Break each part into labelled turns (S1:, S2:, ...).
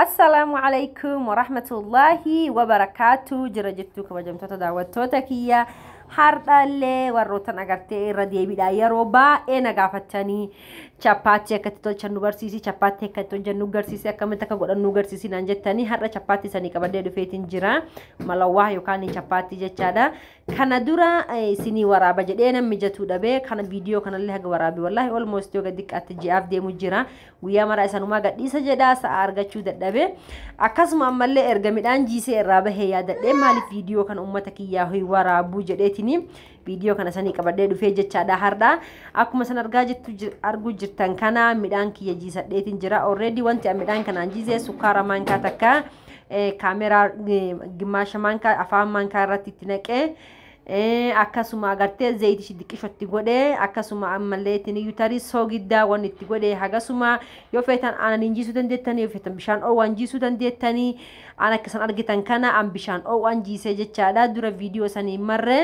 S1: Assalaamu alaikum warahmatullaahi wabarakaatu jira jirtu kabajamtoota daawwattoota kiyya hardhallee warrootan agartee irra deebiidha yeroo baay'ee na gaafattanii chappaatti akkatti tolchan nu barsiisi chappaatti akkatti tolchan nu garsiisi akkamitti akka godhan nu garsiisi naan jettanii har'a chappaatti isanii qabadee dhufeetiin jira malawwaa yookaan chappaatti jechaadha Kana dura isinii waraaba jedhee nan mijatuu dhabe kana viidiyoo kanallee haga waraabe wallaahi almost yoga diqqaatti ji'aaf deemu jira guyyaa maraa isanumaa gadhiisa jedha sa'a argachuu dadhabe akkasuma ammallee erga midhaan jiisee irraa bahee yaadadhee maaliif viidiyoo kana ummata kiyyaa hoy waraabuu jedheetini viidiyoo kana sanii qabadhee dhufee jechaadha hardha akkuma san argaa jirtu arguu jirtan kana midhaan kiyya jiisadheetin jira already wanti an midhaan kanaan jiisee sukkaara maankaa takka kaameraa gimmaasha maankaa afaan maankaa irratti itti naqee akkasuma agartee zayiti ishi diqqishotti godhee akkasuma ammallee ittiin iyyuu tarii soogiddaa waan itti godhee hagasuma yoo feetan aanan hin jiisuu dandeettanii yoo feetan bishaan oowwaan jiisuu dandeettanii aan akkasan argitan kana aan bishaan oowwaan jiisee jechaadha dura viidiyoo sanii marree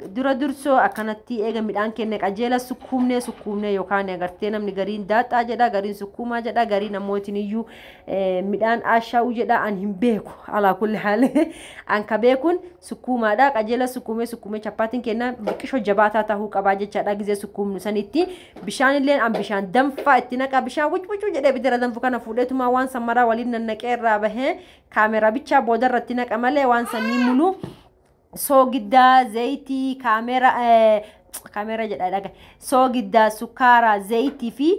S1: Dura dursoo akkanatti eega midhaan kenne qajeela sukkuumnee sukkuumnee yookaan agartee namni gariin daaxxaa jedha gariin sukkuumaa jedha gariin ammoo itiniyyuu midhaan aashaa'uu jedha an hin beeku alaa kulli haali an ka beekuun sukkuumaadha qajeela sukkuumee sukkuumee chappaatiin kenna biqishoo jabaataa tahuu qabaa jechaadha gizee sukkuumnu sanitti bishaan illeen an bishaan danfaa itti naqaa bishaan wucwucuu jedhee bidira danfu kana fuudheetumaa waan san maraa waliin nannaqee irraa bahee kaameraa bichaa boodarratti naqa malee waan sanii muluu soogiddaa, zayitii, kaamera, kaamera jedha dhaga, soogiddaa, sukkaaraa, zayitii fi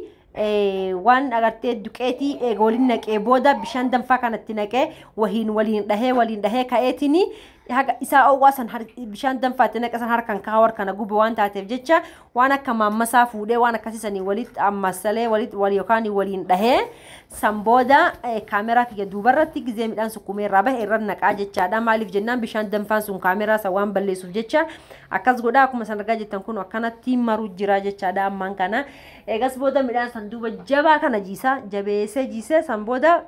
S1: waan agartee duqeetii eega waliin naqee booda bishaan danfaa kanatti naqee wahiin waliin dhahee waliin dhahee ka'eetini haga isaa owwaa san bishaan danfaatti naqe san harkan kaa'u harkana gube waan taateef jecha waan akka maammasaa fuudhee waan akkasii sanii walitti ammassalee walitti wal yookaan waliin dhahee san booda kaameraa kiyya duubarratti gizee midhaan sukkumee irraa bahe irra naqaa jechaadha maaliif jennaan bishaan danfaan sun kaameraa san waan balleessuuf jecha akkas godha akkuma san argaa jettan kun akkanatti maruu jira jechaadha ammaan kana eegas booda midhaan san duuba jabaa kana jiisa jabeessee jiisee san booda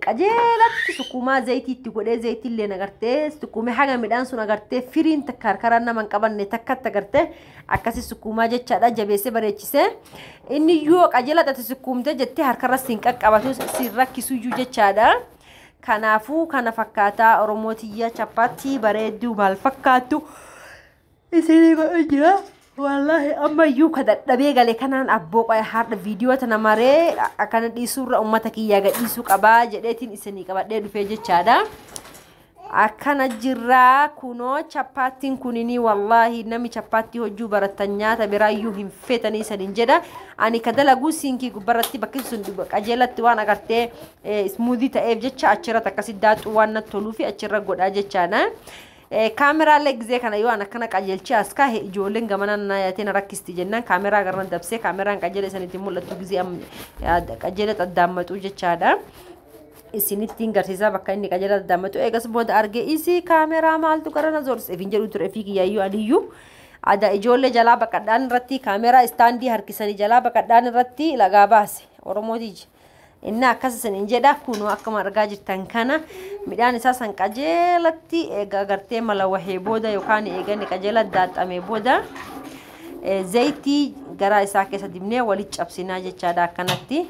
S1: qajeelatti sukkuumaa zayitii itti godhee zayitii illee agartee sukkuumee haga midhaan sun agartee firiin takka harkaraan nama hin qabanne takkatti agartee akkasi sukkuumaa jechaadha jabeessee bareechisee inni yoo qajeela xati sukkuumtee jettee harkarra siin qaqqabatu siin rakkisuyyuu jechaadha. Kanaafuu kana fakkaataa Oromoo tiyya chappaatti bareedduu maal fakkaattu isinii godhu jira wallaahi amma iyyuu ka dadhabee gale kanaan abboo qoya haadha viidiyoo tana maree akkana dhiisuurra ummata kiyyaa gadhiisuu qabaa jedheetiin isinii qabadhee dhufee jechaadha. akkana jirraa kunoo chappaattiin kuninii wallaahi nami chappaattii hojjuu barattan nyaata biraayyuu hin feetanii isanin jedha ani ka dalaguu siinkii gubbarratti bakki sun qajeelatti waan agartee ismuudii ta'eef jecha achirratti akkasi daaxuu waan natti toluu fi achirra godhaa jechaadha. Kaameraalle gizee kana yoo an akkana qajeelchee as kaahe ijoolleen gamanaan naa yaatee na rakkisti jennaan kaameraa garran dabsee kaameraan qajeela isanitti hin mul'attu gizee am- ad- qajeela xaddaammaxuu jechaadha. Isinittiin garsiisaa bakka inni qajeela xaddaammaxuu eegas booda argee isii kaameraa maaltu gara na zorse ifin jedhu ture fi kiyyaayyuu aniyyuu ada ijoollee jalaa baqadhaan irratti kaameraa istaandii harkisanii jalaa baqadhaan irratti lagaa baase Oromoo tiyya. Inni akkas isiniin jedha kunoo akkuma argaa jirtan kana midhaan isaa san qajeelatti egaa gartee mala wahee booda yookaan eegani qajeela daaxxamee booda zayitii garaa isaa keessa dibnee walitti cabsinaa jechaadha akkanatti.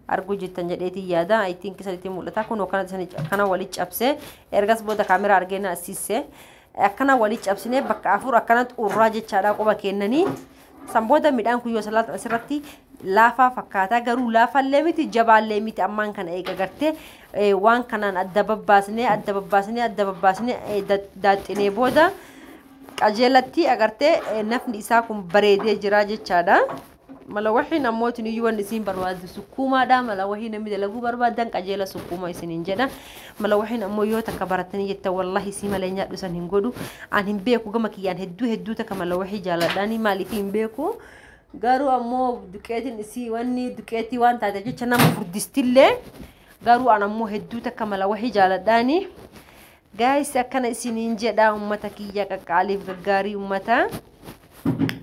S1: arguu jirtan jedheetiin yaada I think isanitti mul'ata kun akkana wali cabse ergas booda kaameraa argee na assisse akkana wali cabsine bakka afur akkanatti urraa jechaadha quba kennanii San booda midhaan kun yoo salaaxan asirratti laafaa fakkaata garuu laafaallee miti jabaallee miti ammaan kana eega gartee waan kanaan adda babbaasnee adda babbaasnee adda babbaasnee daaxxinee booda qajeelatti agartee nafni isaa kun bareedee jira jechaadha. Mala wahiin ammootiin iyyuu wanni isiin barbaaddu sukkuumaadha. Mala wahii namni dalaguu barbaadan qajeela sukkuuma isiniin jedha. Malawahin ammoo yoo takka barattanii jettan wallahi isii malee nyaadhu san hin godhu an hin beeku gama kiyyaan hedduu hedduu takka malawahii jaaladhaanii maaliif hin beeku garuu ammoo duqeetiin isii wanni duqeetii waan taateef jecha nama furdistillee garuu an ammoo hedduu takka malawahii jaaladhaanii gaayis akkana isiniin jedha ummata kiyya qaqqaaliif gaggaarii ummata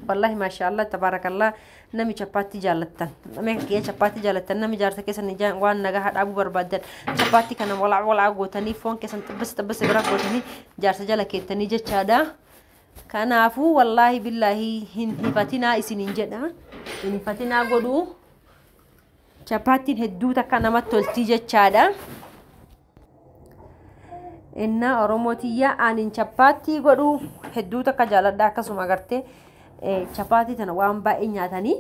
S1: Wallahi maashaallah tabaarakallah nami chappaatti jaallattan namni kiyya chappaatti jaallattan nami jaarsa keessan ijaan waan nagaha dhaabuu barbaaddan chappaatti kana walaa walaa gootanii foon keessan xibbisa xibbisa bira gootanii jaarsa jala keettanii jechaadha. Kanaafuu wallaahi billaahi hin hifatinaa isiniin jedha hin hifatinaa godhuu chappaattiin hedduu takka namatti toltii jechaadha. Innaa Oromoo tiyyaa anin chappaattii godhu hedduu takka jaaladha akkasuma agartee chappaattii tana waan baay'ee nyaatanii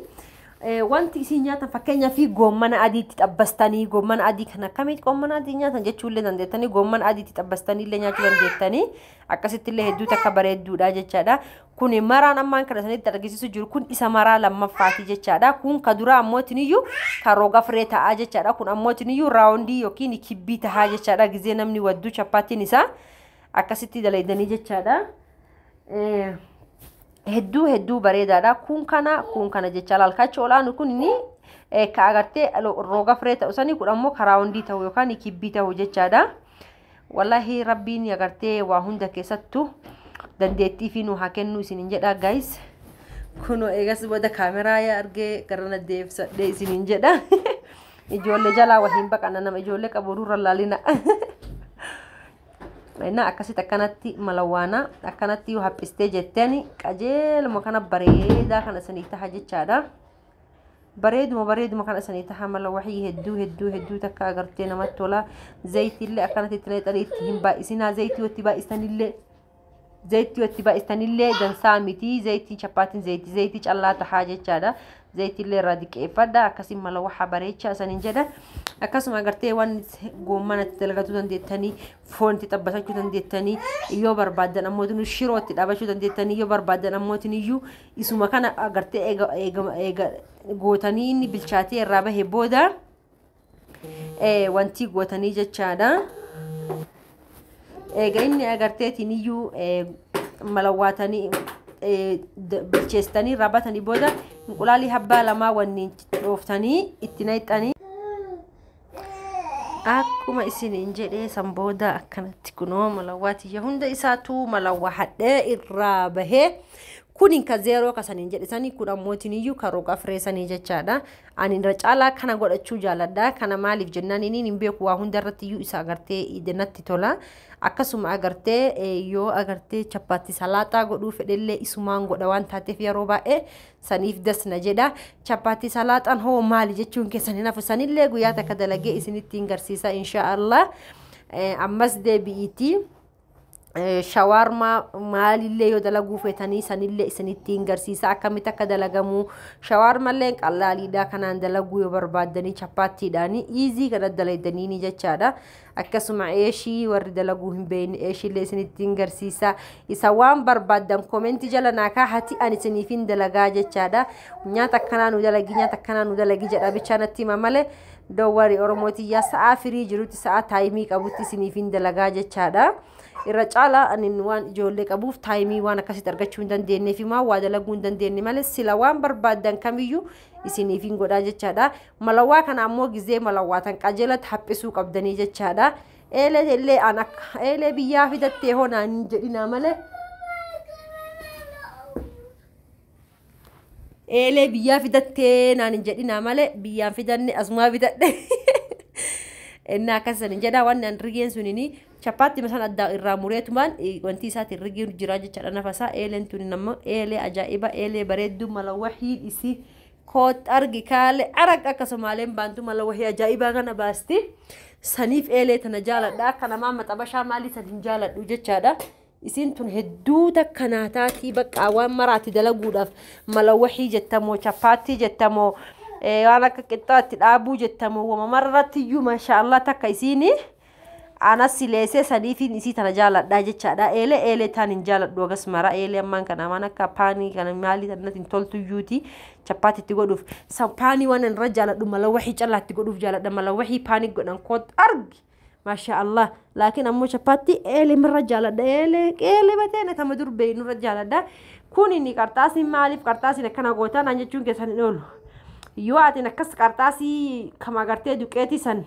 S1: wanti isin nyaatan fakkeenyaa fi goommana adiitti xabbastanii goommana adii kan akkamitti goommana adii nyaatan jechuullee dandeettanii goommana adiitti xabbastanii illee nyaachuu dandeettanii akkasitti illee hedduu takka bareedduudha jechaadha kun maraan ammaan kana sanitti argisiisu jiru kun isa maraa lammaffaati jechaadha kun ka duraa ammootiin iyyuu ka roga firee ta'aa jechaadha kun ammootiin iyyuu raawundii yookiin kibbii ta'aa jechaadha gizee namni wadduu chappaatiin isaa akkasitti dalaydanii jechaadha hedduu hedduu bareedaadha kun kana kun kana jecha laalkaachi olaanu kun inni ka agartee roga firee ta'u sanii kun ammoo ka raawundii ta'u yookaan kibbii ta'u jechaadha. Walahi rabbiin agartee waa hunda keessattu dandeettii fi nu haa kennuu isinin jedha guys. Kuno eegas booda kaameraa yaa argee gara na deebisadhee isinin jedha. Ijoollee jalaa wahiin baqanna nama ijoollee qabu durra laalina. Innaa akkasitti akkanatti malawaana akkanatti yoo haphistee jetteen qajeeluma kana bareedaa kana isinii taha jechaadha. bareeduma bareeduma kana sanii taha mala waxii hedduu hedduu hedduu takka agartee namatti tola zayitiillee akkanatti itti naqxanii itti hin baay'isinaa zayitii watti baay'isanillee zayitii watti baay'isanillee dansaa miti zayitiin chappaatiin zayitii zayitii callaa tahaa jechaadha zayitiillee irraa diqqeeffadha akkasii mala waxa bareecha isanin jedha akkasuma agartee waan goommana itti dalagatuu dandeettanii foon itti xabbasachuu dandeettanii yoo barbaaddan ammoo shiroo itti dhaabachuu dandeettanii yoo barbaaddan ammoo iyyuu Isuma kana agartee eega, eega, eega gootanii inni bilchaatee irraa bahe booda eh, wantii gootanii jechaadha. Eega inni agarteetiin iyyuu eh, malawwaatanii eh, d- bilcheessitanii irraa batanii booda inqulaalii habbaa lamaa wanniin dhooftanii itti naqxanii akkuma isiniin jedhee san booda akkanatti kunoo malawwaa tiyya hunda isaatuu malawwaa hadhee irraa bahee kunin ka zeeroo ka saniin jedhe sanii kun ammootiin iyyuu ka roga firee sanii jechaadha ani irra caalaa kana godhachuu jaaladha kana maaliif jennaan inni hin beeku waa hunda irratti iyyuu isa agartee ija natti tola akkasuma agartee eh, yoo agartee chappaatti salaaxaa godhuu fedhellee isumaan godha waan taateef yeroo baay'ee Saniif das na jedha. Chappaatti salaaxaan hoo maali jechuun keessan hin hafu. Sanillee guyyaa takka dalagee isinittiin garsiisa insha Allah. Eh, Ammas deebi'iitii. Eh, shawaarmaa maalillee yoo dalaguu feetanii sanillee isinittiin garsiisa akkamitti akka dalagamu shawaarmallee qallaaliidha kanaan dalaguu yoo barbaaddanii chappaattiidhaani iizii kana dalaydaniini jechaadha akkasuma eeshii warri dalaguu hin beeyne eeshiillee isinittiin garsiisa isa waan barbaaddan koomenti jala naa kaahati ani isiniifin dalagaa jechaadha nyaata akkanaa nu dalagi nyaata akkanaa nu dalagi jedha bichaa natti hima malee dowwari oromootiyyaa sa'aa firii jirutti sa'aa taayimii qabutti isiniifin dalagaa jechaadha irra caalaa anin waan ijoollee qabuuf taayimii waan akkasitti argachuu hin dandeenyeefi maa waa dalaguu hin dandeenye malee sila waan barbaaddan kamiyyuu isiniifin godhaa jechaadha Malawwaa kana ammoo gizee malawwaatan qajeelatti haphisuu qabdanii jechaadha. Eelee illee an akka eelee biyyaa fidattee hoo naan hin jedhinaa malee. Eelee biyyaa fidattee naan hin jedhinaa malee biyyaan fidanne asumaa bitadhe. Innaa akkas san hin jedhaa waan naan rigeen sunini chappaatti masan addaa irraa mureetumaan wanti isaatiin rigeen jiraa jechaadha nafasaa eeleen tuni nama eelee ajaa'iba eelee bareedduu malawwa hiidhisi Koot argi kaale arag akka somaaleen baantu mala wahii ajaa'ibaa kana baasti saniif eelee tana jaaladha akka namaa maxabashaa maalii san hin jaaladhu jechaadha isiin tun hedduu takka naa taatii baqqaa waan maraatti dalaguudhaaf mala wahii jettamoo chappaattii jettamoo waan akka qixxaatti dhaabuu jettamoo wama mararratti iyyuu maashaallah takka isiinii Anas sileese saniifiin isii tana jaaladhaa jechaadha. Eelee eelee taan hin jaaladhu agas mara eelee ammaan kana amaan akka paanii kana maalii tanatti hin toltuyyuuti chappaatti itti godhuuf. San paanii waan irra jaaladhu mala wahii callaatti godhuuf jaaladha mala wahii paanii godhan koot argi. Maashaa Allah. Laakiin ammoo chappaatti eelee mirra jaaladha eelee eelee batee na tama dur beeynu irra jaaladha. Kun inni qarxaasiin maaliif qarxaasiin akkana gootaa naan jechuun keessan hin oolu. Yoo atiin akkas qarxaasii kama agartee duqeetii san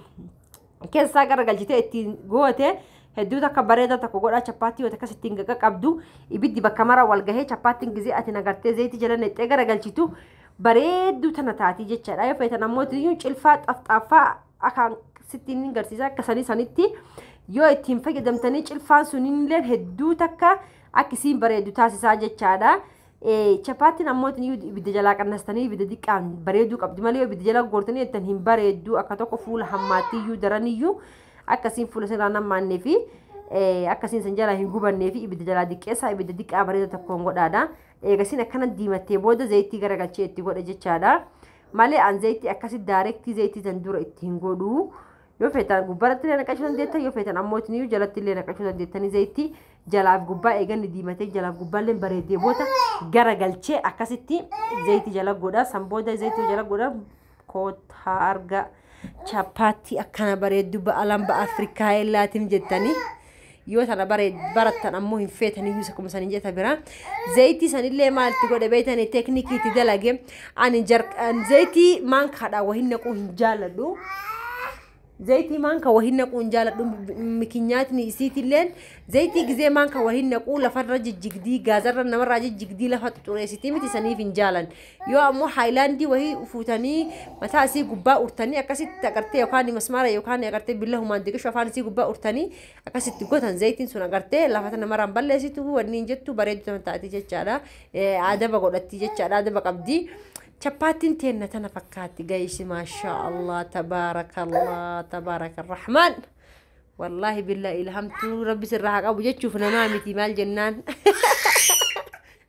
S1: keessaa garagalchitee ittiin goote hedduu takka bareeda tokko godhaa chappaattii wata akkas ittiin gaqa qabdu ibiddi bakka mara wal gahee chappaattiin gizee ati nagartee zayitii jala nexxee garagalchitu bareedduu tana taatii jechaadha yoo feetan ammoo iyyuu cilfaa xafxaaffaa akaan sittiin hin garsiisa akka sanii sanitti yoo ittiin fayyadamtanii cilfaan sunillee hedduu takka akkisiin bareedu taasisaa jechaadha. Chapaattiin ammoo ibidda jalaa qannastanii ibidda diqqaan bareeduu qabdi malee yoo ibidda jalaa goortanii jettan hin bareeddu akka tokko fuula hammaattiyyuu daraniyyuu akkasiin fuula isin irraa nammaannee fi akkasiin isin jalaa hin gubannee fi ibidda jalaa diqqeessaa ibidda diqqaa bareeda tokkoon godhaadha. Eegasiin akkana diimattee booda zayitii garagalchee itti godha jechaadha. Malee an zayitii akkasi daayirektii zayitii tan dura itti hin godhu. Yoo feetan gubbaratti illee naqachuu dandeettan yoo feetan ammoo isiniyyuu jalatti illee naqachuu dandeettanii zayitii jalaaf gubbaa eeganni diimatee jalaaf gubbaa illee bareedee booda gara galchee akkasitti zayitii jala godha san booda zayitii jala godha kootaa arga chapaatti akkana bareeddu ba'alan ba'a Afrikaa illaatiin jettanii. yoo tana barattan ammoo hin feetan iyyuu isa kuma saniin jeta bira zayitii sanillee maal itti godhe beeytanii teeknikii itti dalage ani zayitii maankaadha wahin naquu hin jaaladhu zayitii maanka wahin naquu hin jaaladhu mikinyaatni isiitilleen zayitii gizee maanka wahin naquu lafarra jijjigdii gaazarra namarraa jijjigdii lafa xuxureessitii miti saniif hin jaalan Yoo ammoo haayilaandii wahii fuutanii mataa isii gubbaa urtanii akkasitti agartee yookaan masmaara yookaan agartee billahumaan diqishu afaan isii gubbaa urtanii akkasitti gotan zayitiin sun agartee lafa tana maraan balleessitu wanni hin jettu bareedu tana taati jechaadha. Adaba godhatti jechaadha adaba qabdi. Chappaattiin teenna tana fakkaatti gaysi maashaa Allah tabaarakallah tabaarakarrahmaan. Wallaahi billaa ilhamtuu rabbi sirraa haa qabu jechuuf namaa miti maal jennaan.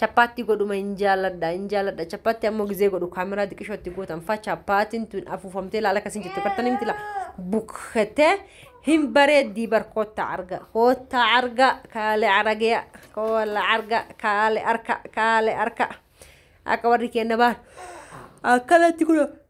S1: Chappaatti godhuma hin jaaladha hin jaaladha chappaatti ammoo gizee godhu kaameraa diqishootti gootan fa chappaatiin tun afuufamtee laala akkasiin jettu kartan himti la bukkatee hin bareeddii bar koottaa arga koottaa arga kaale aragee koola arga kaale arka kaale arka akka warri keenna baar akkanatti kunoo.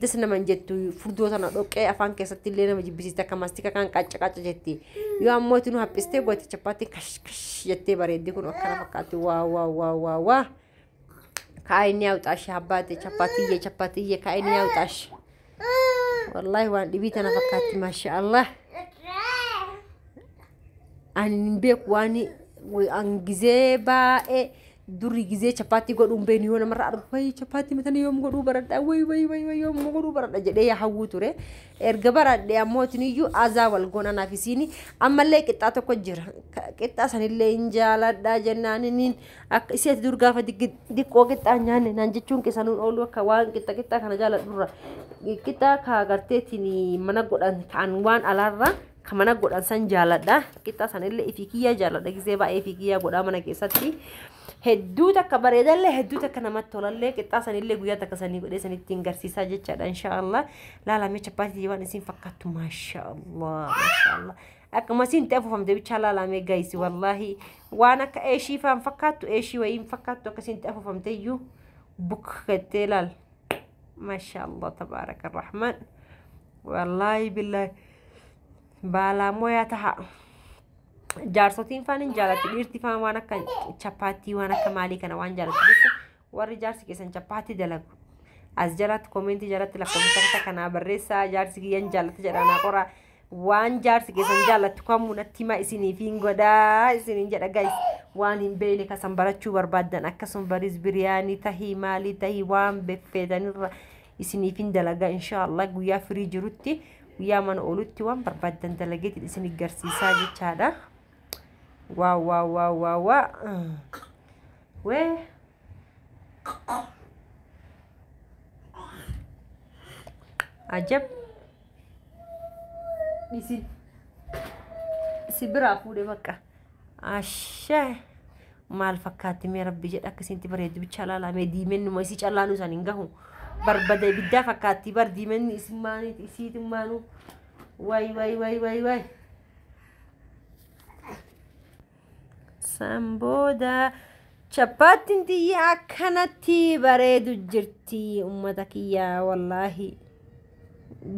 S1: das nama hin jettu furdoo tana dhoqqee afaan keessatti illee nama jibbisiisti akka mastika kan qacca qacca jetti yoo ammoo itti nu haphistee gooti chappaatti kash kash jettee bareeddi kun akkana fakkaatti waa waa waa waa waa kaa'inni haawxaashi habbaate chappaatiyye chappaatiyye kaa'inni haawxaashi wallaahi waan dhibii tana fakkaatti maasha allah Ani hin beeku waan an gizee baay'ee duri gizee chappaatti godhuun beenu yoo namarra argu wayi chappaatti matana yoom godhuu baradha wayi wayi wayi wayi yoom godhuu baradha jedhee yaa hawwuu ture. Erga baradhee ammoo isiniyyuu azaa wal goona naaf isiini ammallee qixxaa tokko jira. Ka- Qixxaa sanillee hin jaaladha jennaan inni akka isheetti dur gaafa diggi- diqqoo qixxaa hin nyaanne naan jechuun keessanuun oolu akka waan qixxa qixxaa kana jaaladhurra. Qixxaa kaa garteetiin mana godhan kan waan alaarraa ka mana godhan san jaaladha qixxa sanillee ifii kiyyaa jaaladha gisee baay'ee ifii kiyyaa godhaa mana keessatti hedduu takka bareedallee hedduu takka namatti tolallee qixxaa sanillee guyyaa takka sanii godhee sanitti hin garsiisaa jechaadha inshaallah laalamee chappaatii waan isin fakkaattu maashaallah maashaallah akkuma isin ta'e fufamte bichaa laalamee gaayisi wallaahi waan akka eeshii faan fakkaattu eeshii wayii hin fakkaattu akka isin ta'e fufamte iyyuu buk gattee laal maashaallah tabaaraka rahmaan wallaahi billaahi Baalaamoyaa taha. Jaarsotiin faan hin jaalatu. Dhiirti faan waan akka chappaattii waan akka maalii kana waan jaalatu jecha warri jaarsi keessan chappaattii dalagu. As jalatti koomeentii jalatti lakkoofsa takka kanaa barreessaa jaarsi kiyyan jaalatu jedhaan qoraa. Waan jaarsi keessan jaalatu kamuu natti himaa isiniif hin godhaa isiniin jedha guys. Waan hin beekne kasan barachuu barbaaddan akkasuma bariis biriyaanii tahii maalii tahii waan beffeetanirra isiniif hin dalagaa inshaallah guyyaa firii jirutti. guyyaa mana oolutti waan barbaaddan dalageetiin isin garsiisaa jechaadha. Waa waa waa waa waa. Wee. Ajab. Isin. Si biraa fuudhe bakka. Ashee. maal fakkaatti mee rabbi jedha akka isinti bareeddu bichaa laalaa mee diimennuma isii callaanuu isaan hin gahu barbada ibiddaa fakkaatti bar diimenni isimmaaniiti isiitimmaanuu waay waay waay waay waay san booda chappaattiin tiyya akkanatti bareedu jirti ummata kiyyaa wallaahi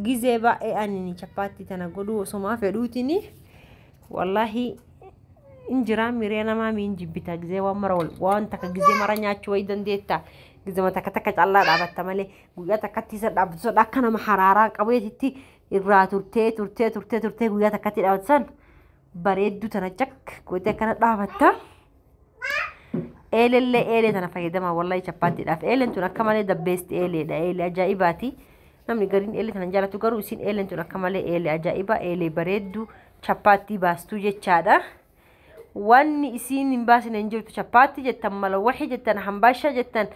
S1: gizee baay'ee anini chappaattii tana godhuu osomaa fedhuutini wallaahi in jira miree namaa miin jibbita gizee waan mara wal waan takka gizee mara nyaachuu wayii dandeetta gizema takka takka callaa dhaabatta malee guyyaa takkatti isa dhaabatu sadha akka nama haraaraa qabeetitti irraa turtee turtee turtee turtee guyyaa takkatti dhaabatu san bareedduu tana cak gootee akkana dhaabatta. Eelellee eelee tana fayyadama wallahi chappaattiidhaaf. Eeleen tun akka malee the best eeleedha. Eelee ajaa'ibaati. Namni gariin eelee tana hin jaalatu garuu isin eeleen tun akka malee eelee ajaa'ibaa eelee bareedduu chappaattii baastuu jechaadha. Wanni isiin hin baasine hin jirtu chappaatti jettan malawaxi jettan hambaasha jettan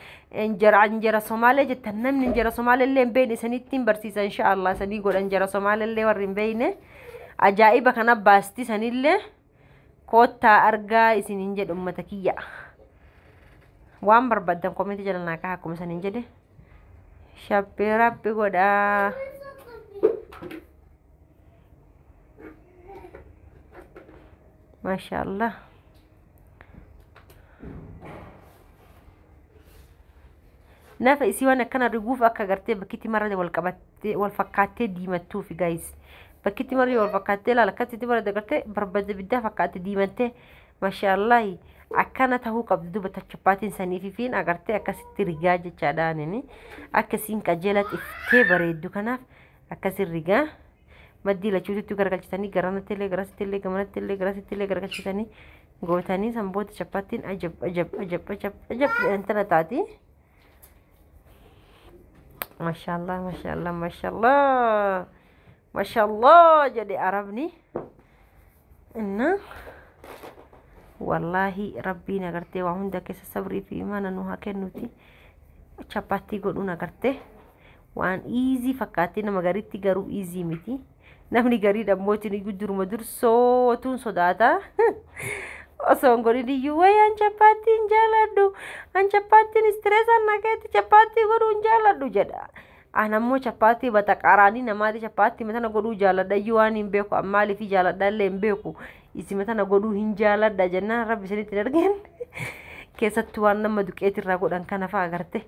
S1: injera injera somaalee jettan namni injera somaalee illee hin beekne isanitti hin barsiisa insha Allah isanii godha injera somaalee illee warri hin beekne ajaa'iba kana baasti sanillee. koottaa argaa isiniin jedhe ummata kiyya waan barbaddan komeenti jala naa kaha akkuma isiniin jedhe shabbee rabbi godhaa maashaa allah Nafa isii waan akkana riguuf akka gartee bakkitti marra wal qabattee wal fakkaattee diimattuufi gaayis. Bakkitti marri wal fakkaattee laala akkatti itti barada gartee barbada biddaa fakkaatte diimattee mashaallahi akkana tahuu qabdi duba tachappaatiin sanii fi fiin agartee akkasitti rigaa jechaadha anini akkasiin qajeela xiftee bareeddu kanaaf akkasiin rigaa maddii lachuutitti garagalchitanii garanatti illee garasitti illee gamanatti illee garasitti illee garagalchitanii Gootanii san booda chapattiin ajab ajab ajab ajab ajab jedhantana taati. Mashaallah mashaallah mashaallah mashaallah jedhe arabni. Inna wallaahi rabbiin agartee waa hunda keessa sabrii fi imaana nu haa kennuti. Chapattii godhuun agartee waan iizii fakkaatti nama garitti garuu iizii miti. Namni garii dhammootiin iyyuu duruma dursootuun sodaata. Osoo hin godhin iyyuu wayii an chappaattii hin jaaladhu. An chappaattiin istirees an nageetti chappaattii godhuu hin jaaladhu jedha. An ammoo chappaattii bataqaaraanii namaati chappaattii matana godhuu jaaladha iyyuu waan hin beeku an maaliif jaaladha illee hin beeku. Isi matana godhuu hin jaaladha jennaan rabbi isinitti hin argeen. Keessattuu waan nama duqeetirraa godhan kana fa'a agarte.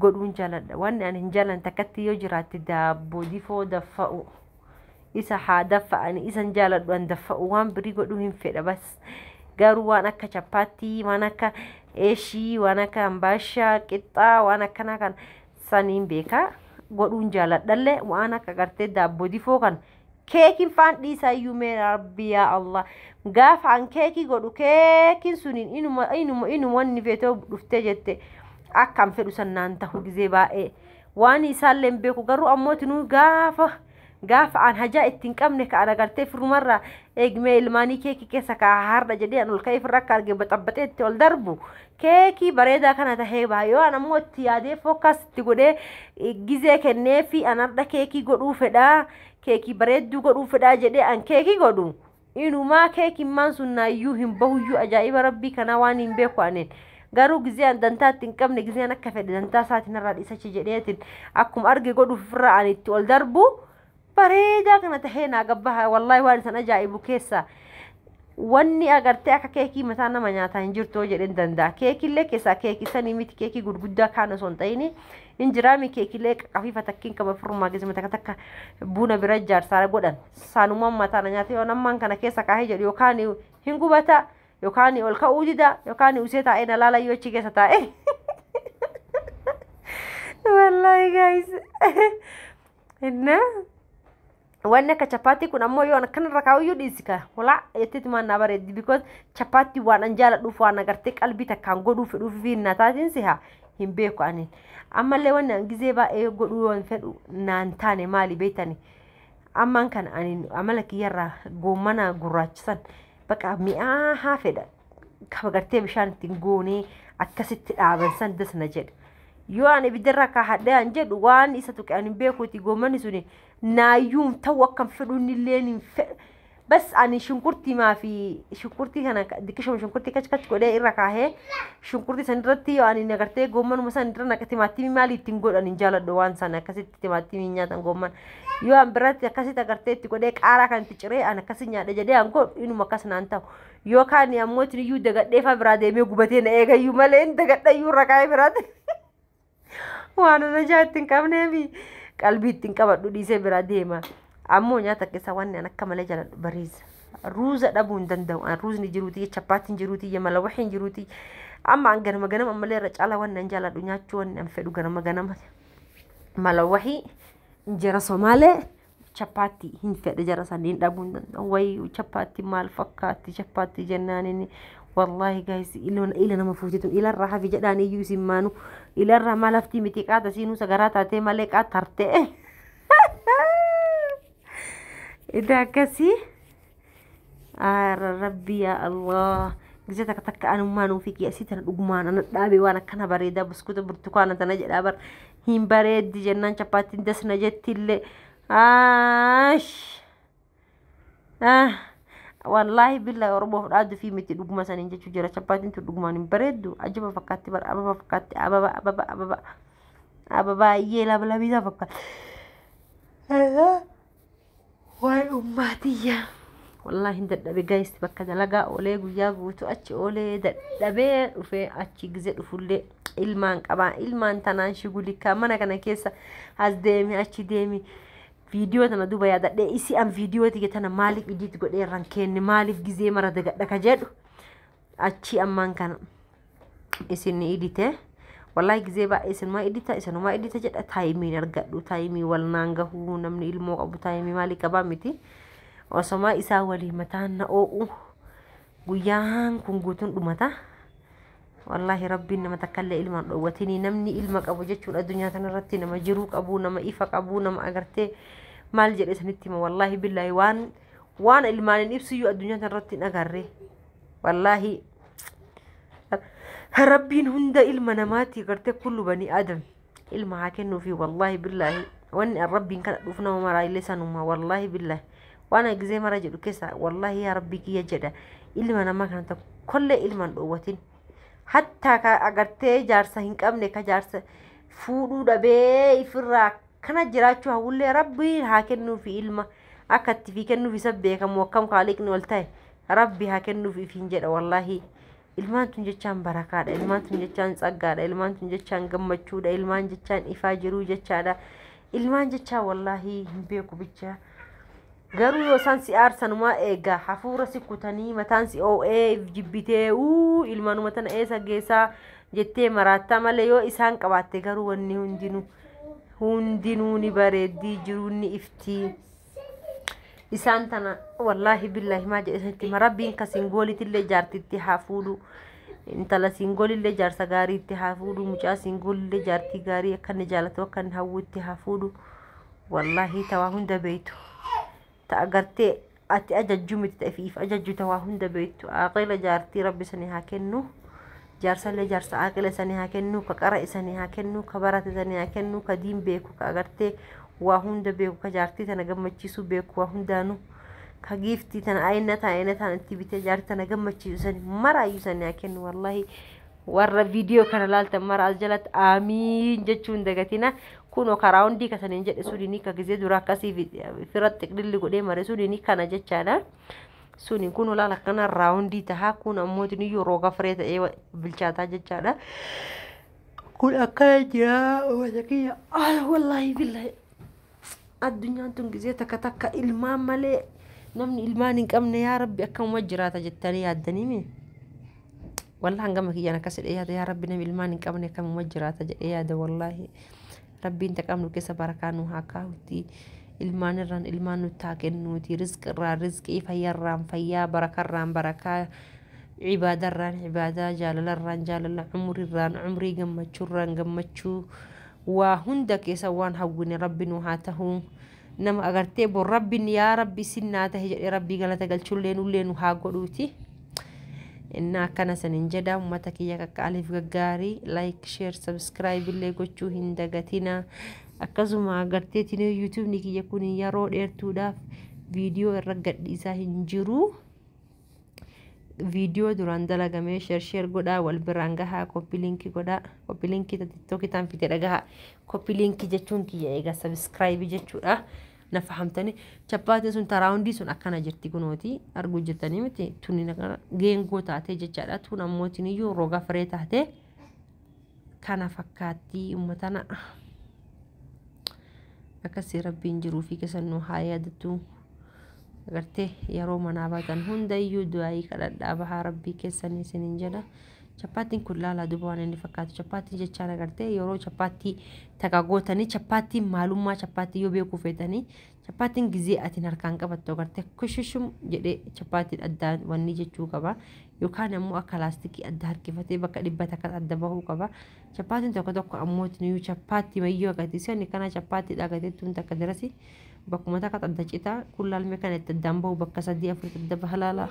S1: godhuun jaladha wanni ani hin jalan takkatti yoo jiraatte daabbo difoo daffa'u isa haa daffa'ani isan jaaladhu an daffa'u waan birii godhuu hin fedha bas garuu waan akka chappaattii waan akka eeshii waan akka ambaashaa qixxaa waan akkanaa kan saniin beekaa godhuun jaaladhallee waan akka gartee daabbo difoo kan Keekin faan dhiisaa iyyuu mee rabbi yaa Allah. Gaafa an keekii godhu keekin suniin inuma inuma inuma wanni feetoo dhuftee jette akka an fedhu san naan tahu gizee baay'ee. Waan isaallee hin beeku garuu ammoo tinuu gaafa gaafa an hajaa ittiin qabne ka an agartee firrumarraa eegmee ilmaanii keekii keessa kaa hardha jedhee an ol ka'ee firra akka arge baxabaxee itti ol darbu Keekii bareedaa kana tahee baha yoo an ammoo itti yaadee fokkaas itti godhee eh, gizee kennee fi an hardha keekii godhuu fedhaa keekii bareedduu godhuu fedhaa jedhee an keekii godhu inumaa keekimmaan sun naayyuu hin bahuyyuu ajaa'iba rabbii kanaa waan hin beeku anin garuu gizee an dantaa itti hin qabne gizee an akka fedhe dantaa isaatiin irraa dhiisachi jedheetiin akkuma arge godhuuf irraa an itti ol darbu bareedaa kana tahee naa gabbaha wallaahi waan isan ajaa'ibu keessa wanni agartee akka keekii mataa nama nyaataa hin jirtu jedhen danda'a keekillee keessaa keekii sanii miti keekii gurguddaa kaan osoo hin ta'ini hin jiraami keekilee qafiifa takkiin kama firrumaa geessima takka takka buuna bira ijaarsaara godhan saanumaan mataa na nyaatee waan ammaan kana keessa kaahee jedhu yookaan hin gubata yookaan ol ka'uu dida yookaan usee taa'ee na laala yoo achi keessa taa'ee. Wallahi guys. Innaa wanni akka chapaattii kun ammoo yoo akkanarra kaa'uyyuu dhiisi ka hulaa jetteeti maan naa bareeddi because chapaattii waan an jaaladhuuf waan agartee qalbii takkaan godhuu fedhuuf fi hin nataatiin siha hin beeku ani ammallee wanni an gizee baay'ee godhuu waan fedhu naan taane maali beektani ammaan kana ani amala kiyyarraa goommana gurraachisan baqa mi'aa haa fedha kama gartee bishaan ittiin guunee akkasitti dhaaban san das na jedhe. Yoo an ibiddarraa kaahadhee an jedhu waan isa tuqe an hin beekuuti goommanni suni naayyuun ta'u akkan fedhuun illee hin fedhu. Bas ani shunkurtii maafi shunkurtii kana dikkishuma shunkurtii kach kach godhee irra kaahee shunkurtii san irratti yoo ani nagartee goommanuma san irra naqa timaatimii maali ittiin godhan hin jaaladhu waan san akkasitti timaatimii nyaatan goomman. Yoo an biratti akkasitti agartee itti godhee qaaraa kan itti ciree an akkasi nyaadha jedhee an godhu inuma akkas naan ta'u. Yookaan ammoo isin iyyuu dagadhee faa biraa deemee gubatee na eegayyuu malee inni dagadhayyuu irra kaa'ee biraatti. Waan ana ijaa itti hin qabnee fi qalbii itti hin qabadhu dhiisee biraa deema. Ammoo nyaata keessaa waan ani akka malee jaaladhu bariisa. Ruuza dhabuu hin danda'u. An ruuzni jiruuti, chappaatiin jiruuti, yamala waxiin jiruuti. Amma an ganama ganama ammallee irra caalaa waan an jaaladhu nyaachuu waan an fedhu ganama ganama. Mala wahii, injera somaalee. Chappaatti hin fedhe jara saniin dhabuu hin danda'u. Wayi chappaatti maal fakkaatti chappaatti jennaan inni wallaahi gaayis ila nama fuutetu ilarraa hafi jedhaan iyyuu isin maanu ilarraa maal haftii miti qaata siinuu sagaraa taatee malee qaata tartee. Idaa akkasii. Aara rabbii yaa Allah. Gisa takka takka anummaa nuu fi keessi tana dhugumaan ana dhaabee waan akkana bareedaa buskuuta burtukaana tana jedhaa bar hin bareeddi jennaan chappaattiin dasna jetti illee. Aash. Ah. Wallaahi billa Oromoof dhaaddu fi miti dhuguma saniin jechuu jira chappaattiin tun dhugumaan hin bareeddu ajiba fakkaatti bar ababa fakkaatti ababa ababa ababa ababa baay'ee labalabisa fakkaatti. Waay ummaa tiyya. Wallaahi hin dadhabe guys bakka dalagaa oolee guyyaa guutuu achi oolee dadhabee dhufee achi gize dhufullee ilmaan qabaa ilmaan tanaan shigulikaa mana kana keessa as deemi achi deemi viidiyoo tana duba yaadadhee isi an viidiyoo tiyya tana maaliif idiit godhee irraan keenne maaliif gizee mara dagadha ka jedhu achii ammaan kana isin idite wallahi gizee baay'ee isinumaa idita isinumaa idita jedha taayimiin argadhu taayimii wal naan gahuu namni ilmoo qabu taayimii maalii qabaa miti osomaa isaa walii mataan na oo'u guyyaan kun guutuun dhumata wallahi rabbiin nama takkallee ilmaan dhoowwatinii namni ilma qabu jechuun addunyaa kanarratti nama jiruu qabu nama ifa qabu nama agartee maal jedhe isinitti hima wallahi billaahi waan waan ilmaaniin ibsiyyuu addunyaa kanarratti hin agarree wallaahi rabbiin hunda ilma namaatti gartee kullu banii aadam ilma haa kennuufi wallaahi billaahi wanni an rabbiin kana dhuuf nama maraa illee sanuma wallaahi billaahi waan ani gizee mara jedhu keessa wallaahi yaa rabbii kiyya jedha ilma namaa kana tokkollee ilma hin dhoowwatin hattaa ka agartee jaarsa hin qabne ka jaarsa fuudhuu dhabee ifirraa akkana jiraachuu hawwullee rabbiin haa kennuufi ilma akka itti fi kennuufi isa beekamu akkam kaaliqni ol ta'e Rabbi haa kennuuf ifiin jedha wallaahi. Ilmaan tun jechaan barakaadha, ilmaan tun jechaan tsaggaadha, ilmaan tun jechaan gammachuudha, ilmaan jechaan ifaa jiruu jechaadha. Ilmaan jechaa wallaahi hin beeku bicha. Garuu yoo isaan si aarsanumaa eegaa hafuura si kutanii mataan si oo'ee jibbitee uu ilmaanuma tana eessa geessaa jettee maraattaa malee yoo isaan qabaatte garuu wanni hundinuu hundinuu ni bareeddii jiruun ni iftii. isaan tana wallaahi billaahi maa jedhe isinitti hima rabbiin ka singoolitillee jaartitti haa fuudhu intala singoolillee jaarsa gaarii itti haa fuudhu mucaa singoolillee jaartii gaarii akka inni jaalatu akka inni hawwu itti haa fuudhu wallaahi tawaa hunda beeytu ta agartee ati ajajju miti ta ifiif ajajju tawaa hunda beeytu aqila jaartii rabbi sanii haa kennu Jaarsalee jaarsa aaqila isanii haa kennuu ka qara isanii haa kennuu ka barate isanii haa kennuu ka diin beeku ka agartee waa hunda beeku ka jaartii tana gammachiisuu beeku waa hundaanu ka giiftii tana ayinataa ayinataan itti bitee jaartii tana gammachiisu isanii maraayyuu isanii haa kennu wallaahi warra viidiyoo kana laaltan mara as jalatti aamiin jechuu hin dagatina kunoo karaa hundii kasaniin jedhe suniin ka gizee dura akkasii firatti qililli godhee mare suniin kana jechaadha. suni kun olaal akkana raawundii tahaa kun ammoo tuniyyuu rooga firee ta'ee wa- bilchaataa jechaadha kun akkana jira wata kiyya ah, wallaahi billaahi addunyaan tun gizee takka takka ilmaan malee namni ilmaan hin qabne yaa rabbi akkamuma jiraata jettanii yaaddanii mee Wallah an gama kiyyaan akkas jedhee yaada yaa rabbi nami ilmaan hin qabne akkamuma jiraata jedhee yaada wallaahi rabbiin ta qabnu keessa barakaa nu haa kaa'utti ilmaan irraan ilmaan nutti haa kennuuti rizqi irraan rizqii fayyarraan fayyaa barakarraan barakaa cibaadarraan cibaadaa jaalalarraan jaalala cumrirraan cumrii gammachuurraan gammachuu waa hunda keessa waan hawwine rabbi nu haa tahuu nama agartee bor rabbin yaa rabbi isin naa tahe jedhee rabbii galata galchullee nullee nu haa godhuuti innaa akkana sanin jedha ummata kiyya qaqqaaliif gaggaarii like share subscribe illee gochuu hin dagatina akkasuma agarteetiin youtubni kiyya kun yeroo dheertuudhaaf viidiyoo irra gadhiisaa hin jiruu viidiyoo duraan dalagamee sheer sheer godhaa wal biraan gahaa koppi liinkii godhaa koppi liinkii tiktookii taan fite dhagaha koppi liinkii jechuun kiyya egaa sabiskiraayibii jechuudha na fahamtanii chappaatiin sun taraawundii sun akkana jirti kunooti arguu jirtanii miti tuni geengoo taatee jechaadha tun ammootiin iyyuu roga firee taatee. kana fakkaattii ummatana akkasii rabbiin jiruu fi kesan nu haa yaadatu agartee yeroo manaa baatan hundayyuu du'aayii kadhadhaa bahaa rabbii keessanii isinin jedha chappaattiin kun laalaa duba waan inni fakkaatu chappaattii jechaan agartee yeroo chappaattii taqa gootanii chappaattiin maalummaa chappaattii yoo beekuu feetanii Chappaatiin gizee atiin harkaan qabattu agartee kushishum jedhee chappaatiin addaan wanni jechuu qaba. Yookaan ammoo akka laastikii adda harkifatee bakka dhibba takka adda bahuu qaba. Chappaatiin tokko tokko ammoo nuyi chappaatti mayyoo agartee sani kana chappaattiidha agartee tun takka darasi bakkuma takka adda citaa kun laalmee kana itti addaan bahu bakka sadii afur adda baha laala.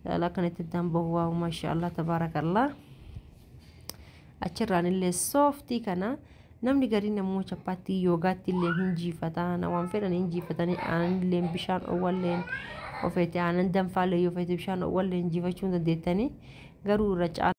S1: Laala kana itti addaan bahu waawu maashaallah tabaarakallah. Achirraan illee sooftii kana namni gariin ammoo chappaattii yoogaatti illee hin jiifata na waan fedhan hin jiifatanii aanan illee bishaan owwalleen ofeete aanan danfaallee yoo feete bishaan owwalleen jiifachuu hin dandeettanii garuu irra caala.